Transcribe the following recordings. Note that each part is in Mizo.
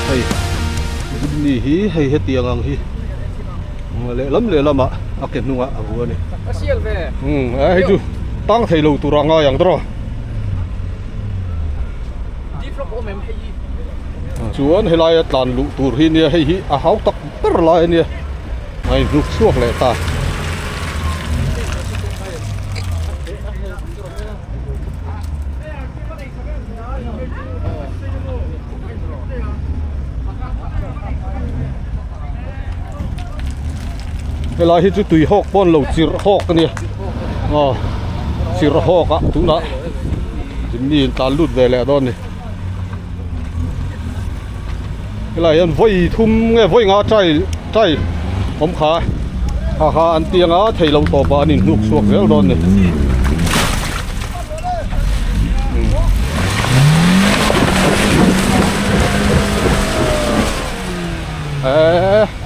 Hei Good Ni hi hei hetiang ang hi lehlam lehlam ah a ke hnung ah a ru a ni. Umm a hei chu tang thei lo tur ah a ngai ang tawh a. Chuan he lai a tlan luh tur hi nia hei hi a hau tak ber lai a nia ngaihhnuk chhuak leh ta. helai hi chu tui hawk pawn lo chirh hawk a nia a chirh hawk a tuna zimni in tlan lut ve leh dawn a ni. helai hian vawi thum nge vawi nga try try awm kha haha an ti anga thei lo tawp ah an in hnuk chhuak zel dawn a ni eehh.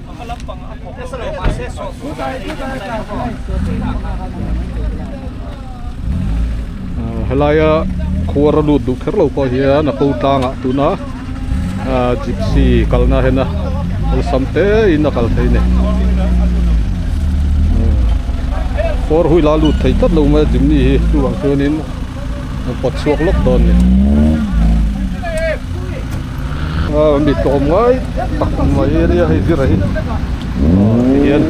helaia khuar a lut duh kher lo pawh hian a kal tlang ah tuna ah gypsy kalna ah hian a awlsam te in a kal phei a ni four wheel a lut thei tlat lo mai a gymi hi chuvang chuan in a pawt chhuak lawk dawn a ni. mi tlawm ngai tak mai a nia hei zirah hi tihian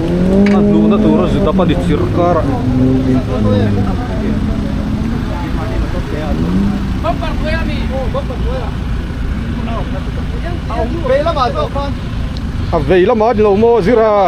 a hnuhna tura zidap a ni chirh karah a vei lamah a ni lo maw zirah a.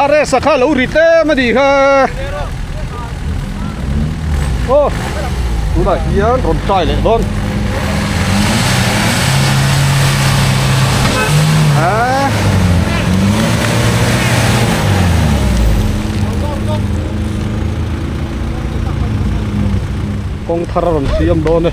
a race a kha lo ri tlem a ni kha aw tunah hian rawn try leh dawn ah kawng thar a rawn siam dawn e.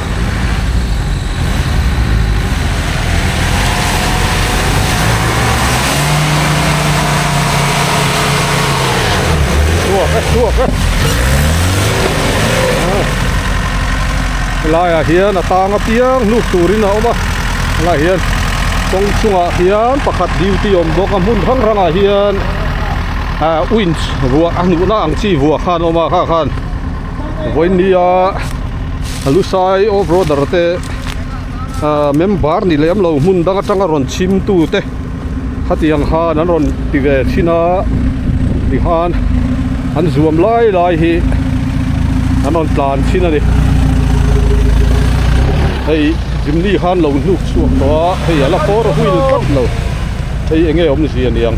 laiah hian a tang apiang hnu turin a awm a laiah hian kawng chungah hian pakhat duty a awm bawk a hmun hrang hrangah hian ahh winch ruah a hnuhna ang chi ruah khan a awm a hahkhan-- vawinia a lusai off roader te ahh member ni lem lo hmun dang atanga rawn chhim tu te khatiang khan an rawn ti ve thin a ti khan an zuam lai lai hi an rawn tlan thin a ni hei zimni khan lo hnuk chhuak tawh a hei a la four wheel tlat lo hei eng nge awmzia niang.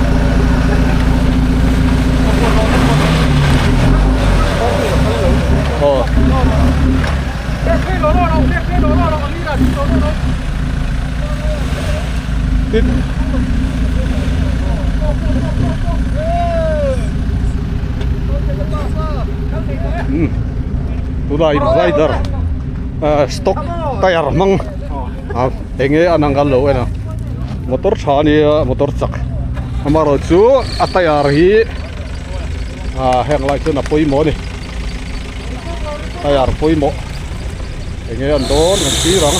tuna in rider ahh stock tyre hmang. ah eng nge a nang kal lo ena motor tha a nia motor chak amaherawh chu a tyre hi ah heng lai chuan a pawimawh a ni tyre pawimawh eng nge an dawn kan tir ang.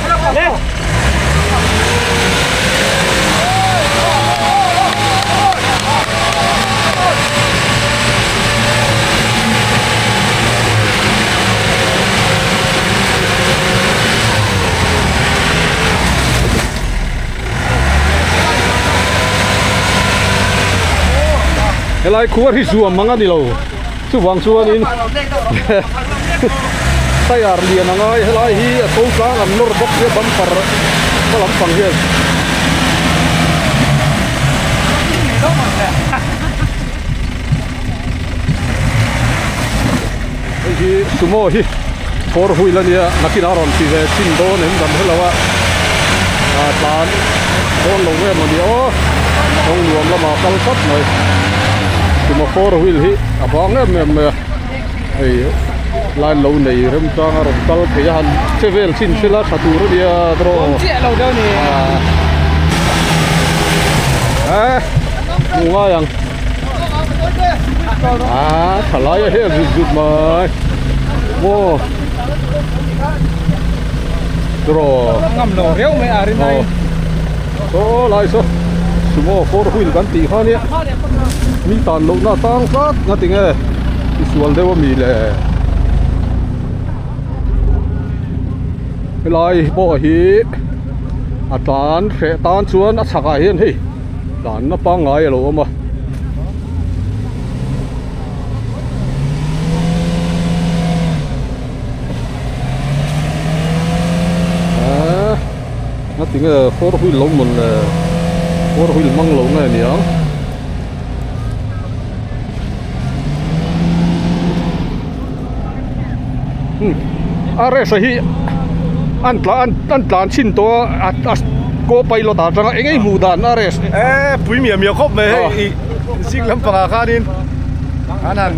helai khuarii chu a mang a ni lo. Chuvang chuanin tyre lian a ngai helai hi a to tlang an nawr bawk sia bumper hma lampang hian hei hi sumo hi. Kawr huil a nia, nakin a rawn ti ve chin dawn em dam helo a, aa tlan dawn lo em ania aw, kawng nuam lamah kal tlat mai, tuma kawr huil hi a hma ngem ngem mai a, hei line lo nei rem chang a rawn kal phei a han che vel chin sil a, tha tur a nia draw aa. Aa hnu ngai ang. aa tha lai a hel zut zut mai maw draw a ngam lo riau mai a rin ai aw lai saw sumo four wheel kan tih kha nia min tan loh na tan tlat nga ti nge isual deuh a mi le helai pawh hi a tan hreh tan chuan a chhak ah hian hei tlanna pangngai a lo awm a aaa a ti nge four wheel lo mawlh le four wheel hmang lo nge ni ang a race a hi an tla an an tlan chhin tawh a a a co pilot ah aṭanga eng eng hmuh dan a race eee pui miah miah khawp mai hei ih zing lampang ah khanin an han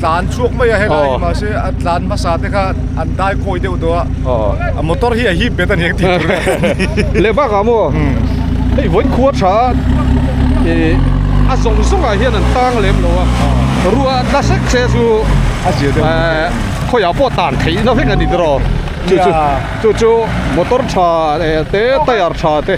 tlan chhuak mai a helai mahse a tlan hmasa te kha an dai kawi deuh tawh a. Aww, a motor hi a hip bet aniang tih tur a ni. Leh bakah maw? Umm. Hei vawi khua tha a zawng zawngah hian an tang lem lo a. Rua a tla sek che chu a zia deuh mai a ni. Khawiah pawh tan theihna vek a ni tiraw? Chu chu chu chu motor tha te tyre tha te.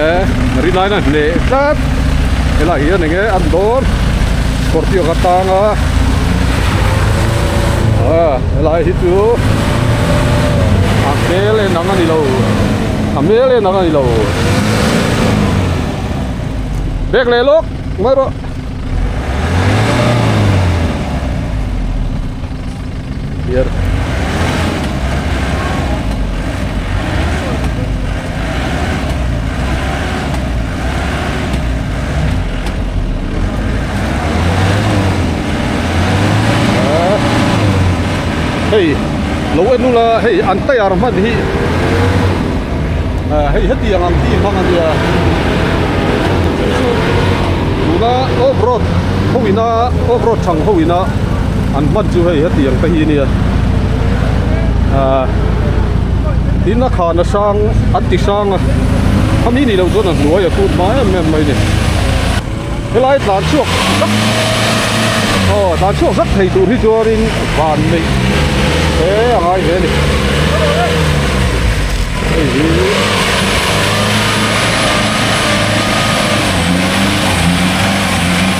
eh ri line a hneh tlat he lah hian eng nge a ni dawn scorpio ka tang a ah helai hi chu a hmel en ang a ni lo a hmel en ang a ni lo bag leh lawk ngaih rawh. hei lo en nula hei an tire hman hi ahh hei heti ang ang chi hmang a nia tuna off road ho ina off road thang ho ina. An hman chu hei heti ang te hi a nia, ahh in a khan a sang, an ti sang a, khami nih loh chuan a hnuai a tut hma em em mai ni. Helai tlan chhuak zak, aw tlan chhuak zak thei tur hi chuanin van neih te a ngai hle a ni. Hei hi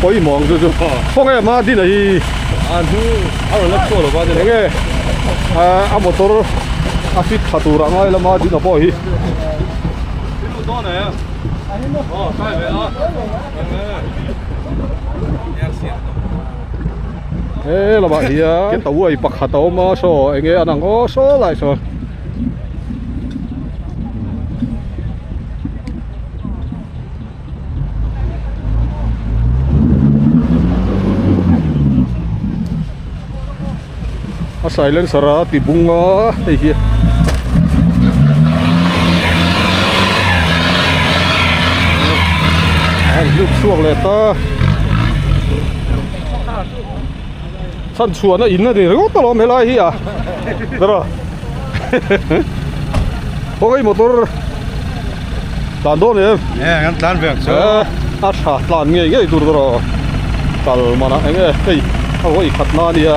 Pawimawh ang chu chu. Khawnge a hmaa din a hi. A hnung a rawn la chhuah lova nen. Enge ah a motor a fit thla tur ah ngai lama din a pawh hi. I lut dawn e. Aw kai ve a. He lamah hian keta uai pakhat a awm a saw enge an ang aw saw lai sawn. a silencer a ti bung a hei hi an hluk chhuak leh ta. chhan chhuahna in a ni riau tawh lo helai hi a bera kawng ei motor tlan dawn em eh kan tlan vek chu eh a tha tlan ngei ngei tur te rawh kalmana eng nge hei a vawi khatna a nia.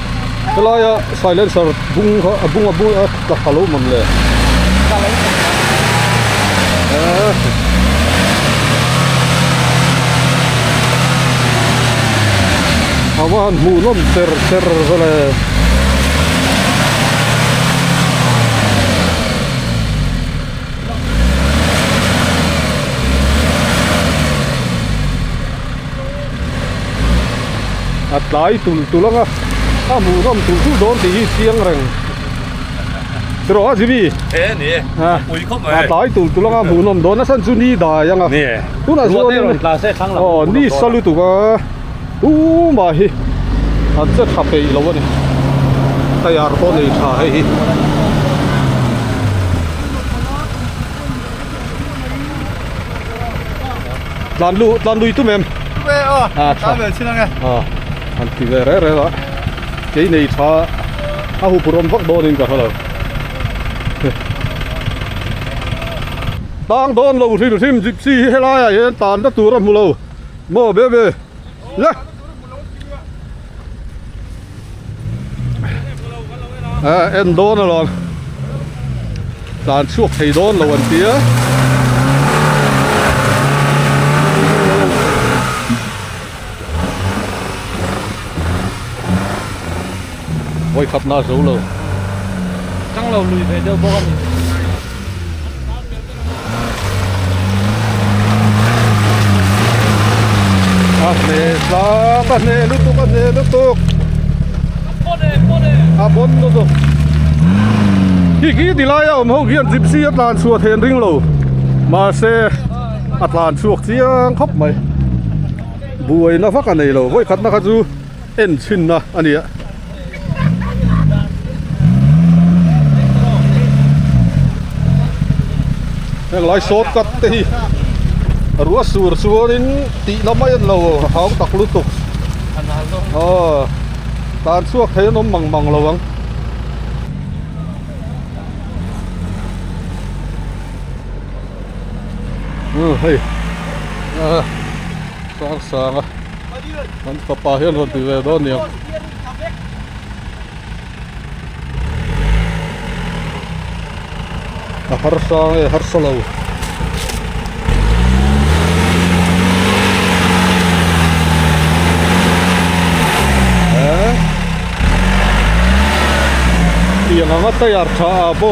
helaia silencer bung kha a bung a bung a tlak ta lo mam le a va han hmuh nawm ter ter vel e a tlai tul tul ang a a hmuh zawm tur tur dawn tih hi chiang reng siraw a zibi he ni a pui khawp mai a tlai tul tul ang a hmuh nawm dawn nasa chu ni dai ang a ni tunah chuan ruate rawn tla se thlang lam aw ni sa lutuk a u mah hi an che tha peih lo a ni taiar pawh a nei tha hei hi. tlan lu tlan lui tum em an ti ve reng reng a kei nei tha a hupur awm vak dawn in ka hre lo tang dawn lo hrim hrim gypsy hi helai ah hian tlan na tur a hmu lo maw be be. la a en dawn alawm tlan chhuak thei dawn lo an tia voi khap na zo lo chang lo lui ve deuh bawk a ni a hle hlak a hle lutuk a hle lutuk a bawn lutuk khi khi ti laia awm ho khian gypsy a tlan chhuah thei an ring lo mahse a tlan chhuak chiang khawp mai buaina vak a nei lo vawikhatna kha chu-- En chhinna a ni a. Heng lai short cut te hi a ruah sur chuanin tihna mai an lo hau tak lutuk. Aw tan chhuak theih an awm mang mang lo ang. Hei, a sang sang a. Kan fapa hian rawn ti ve dawn nia. A harsa nge harsa lo. Tiang anga tayar tha a bo.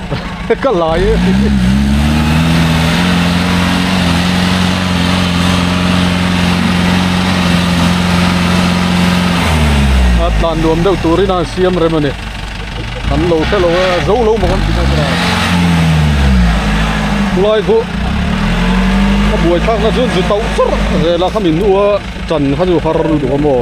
ka lai e a tlan nuam deuh turin a han siam rem a ni kan lo hrelo a zo lo maw kan tih mai tawh a khulai chu ka buai thlak na chu zu tauh char zel a kha min u a chan kha chu har lutuk a maw.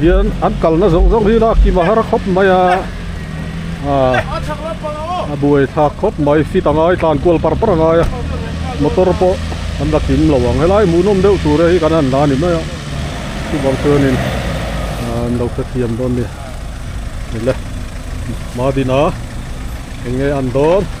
hian an kalna zawng zawng hi la kima har khawp mai a. a buai thlak khawp mai fit a ngai tlan kual par par a ngai a motor pawh an la kim lo ang helai a muhnawm deuh tur hi kan han la ni mai a chuvang chuanin an lo hrethiam dawn a ni le Mahbin a eng nge a ni dawn.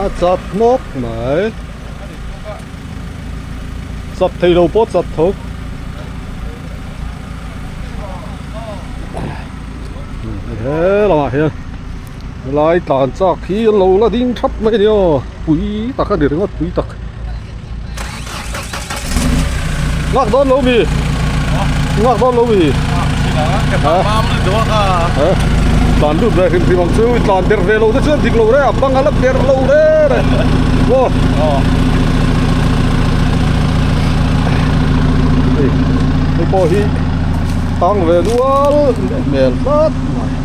a chap hnawk mai chap thei lo pawh chap tho he lam ah hian helai tlan chak hi an lo la ding thap mai a ni aw pui tak a ni ringawt pui tak. ngak don lo mi ngak don lo mi ha tlan lut ve hrim hrim ang chu tlan ber ve lo te chuan dik lo re a bang a la ber lo re re aw hei pawh hi tang ve nual hmel tlat mai.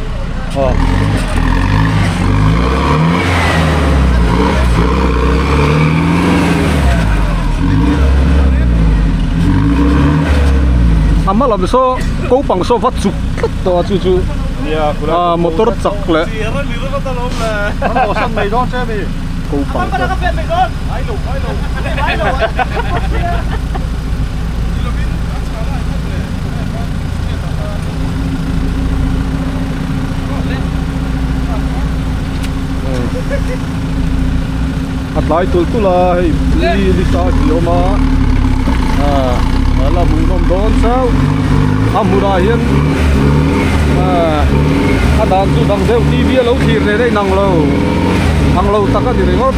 a hma lam saw ko pang saw va chuk tlat tawh a chu chu ah motor chak leh ko pang chuan a tlai tul tul a hei police a ni awm a aaa ala hmuh nawm dawn chau a hmunah hian aaa a dan chu dang deuh T V a lo thlir leh daih inang lo ang lo tak a ni ringawt.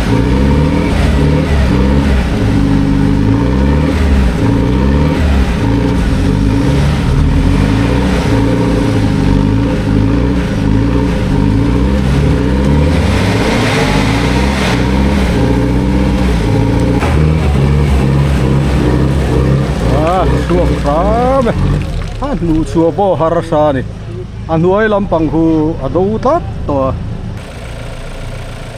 hnu chhuah pawh har sa a ni a hnuai lampang hu a do tlat tawh a.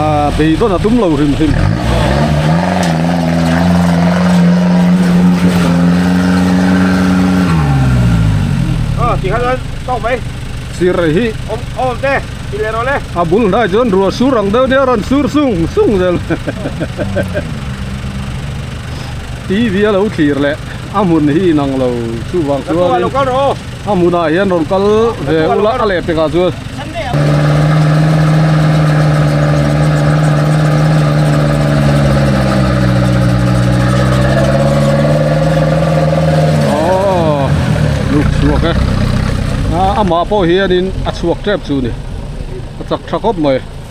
Ahh beidawn a tum lo hrim hrim ah tihah chuan tawk mai sir rei hi awm awm te ti leh rawh le a bul hnai chuan rua sur ang deuh deuh a rawn sur sung sung zel T V a lo thlir leh. A hmun hi inang lo chuvang chuan a hmunah hian rawn kal ve ula a leh pekah chuan aww nuk chhuak e a amah pawh hianin a chhuak tep chu ni a chak tha khawp mai.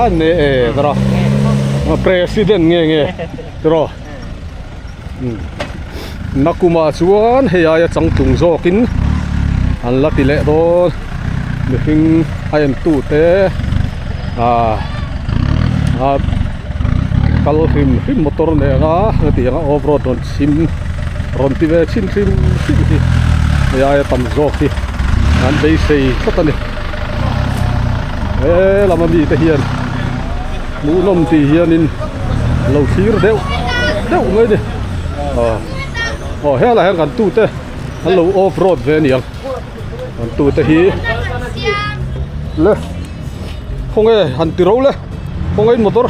a ne e tara president nge nge tara nakuma chuan hei aia changtlung zawkin an la ti leh dawn mihring a en tu te ah a kal hrim hrim motor nena hetiang nga off road rawn chhim rawn ti ve chhin hrim hrim hi hei aia tam zawk hi an beisei tlat a ni. He lama mite hian hmuhnawm ti hianin lo thlir deuh deuh mai a ni. Aw, aw helah hian kan tute an lo off road ve a niang. Kan tute hi le khawnge han ti ro le khawngain motor,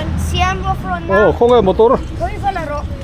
aw khawnge motor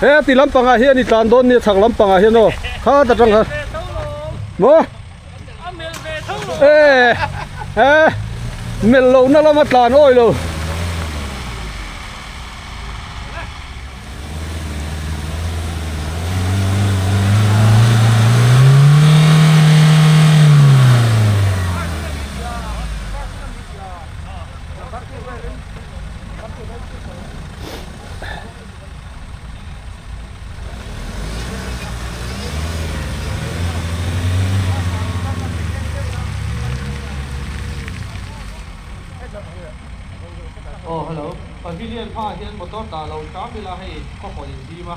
he a ti lampang ah hian i tlan dawn nia chhak lampang ah hian aw khat atang kha maw ee he melh loh na lama tlan awi lo Aw hello pavilion hmaah hian motor dah lo tlâng ila hei khawpawlh in zim a.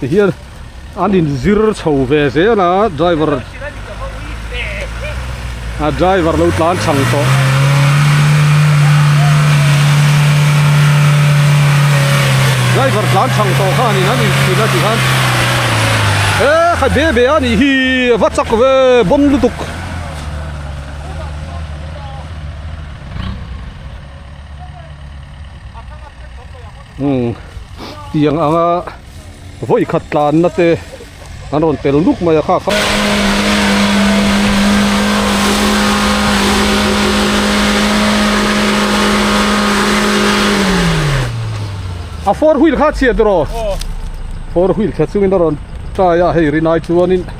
ti hian an in zir chho ve zel a driver a driver lo tlan chang tawh driver tlan chang tawh khan in an in chhin a ti khan he kha be be a nih hi a va chak ve bawn lutuk Tiang anga vawi khat tlanna te an rawn tel duk mai a kha. A four wheel kha chhiat iraw four wheel chhiat chungin a rawn try a hei rinai chuanin.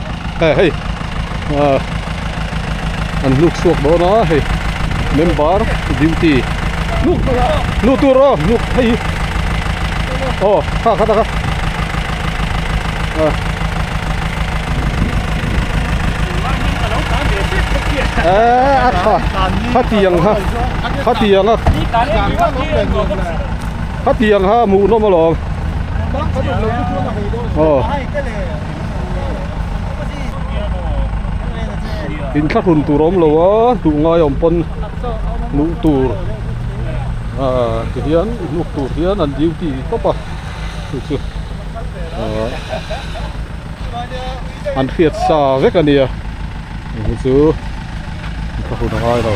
hei hei ah an hluk chhuak dawn a hei member duty hluk hluk tur aw hluk phei hi aw kha khat a kha ah eh a kha khatiang kha khatiang a khatiang kha muh nawm alawm aw in thla hlun tur a awm lo a hnuh ngai awm pawn hmuh tur ah ti hian hnuk tur hian an duty ni tawp a hei chu ah an hriat sa vek a ni a hei chu in thla hlun a ngai lo.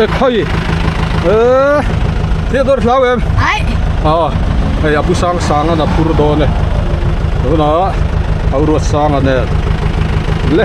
e khawih e thia dawr hlau em ai a hei abu sang sang an a phur dawn e tunah a ruat sang a nen le.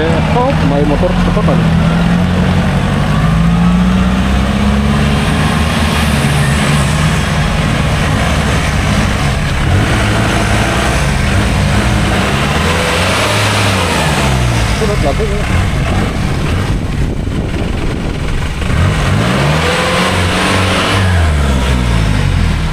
Khawp mai motor tha tak a ni. Surat la vung.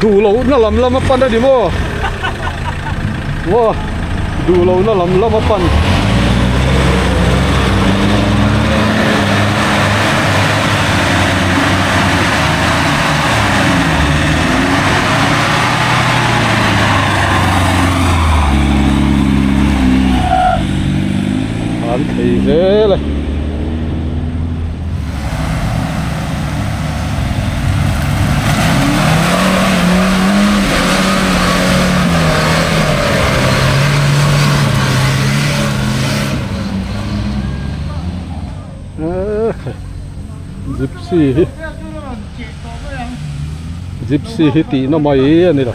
duhloh na lam lama pan a ni maw maw. duh loh na lam lam a pan an thei zel a. zipsi hi zipsi hi tihna mai a ni lo.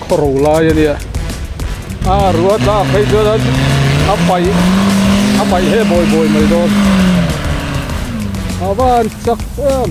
Khaw ro lai a nia. A rua tlak phei chuan a paih a paih he bawi bawi mai dawn. Ava an chak em.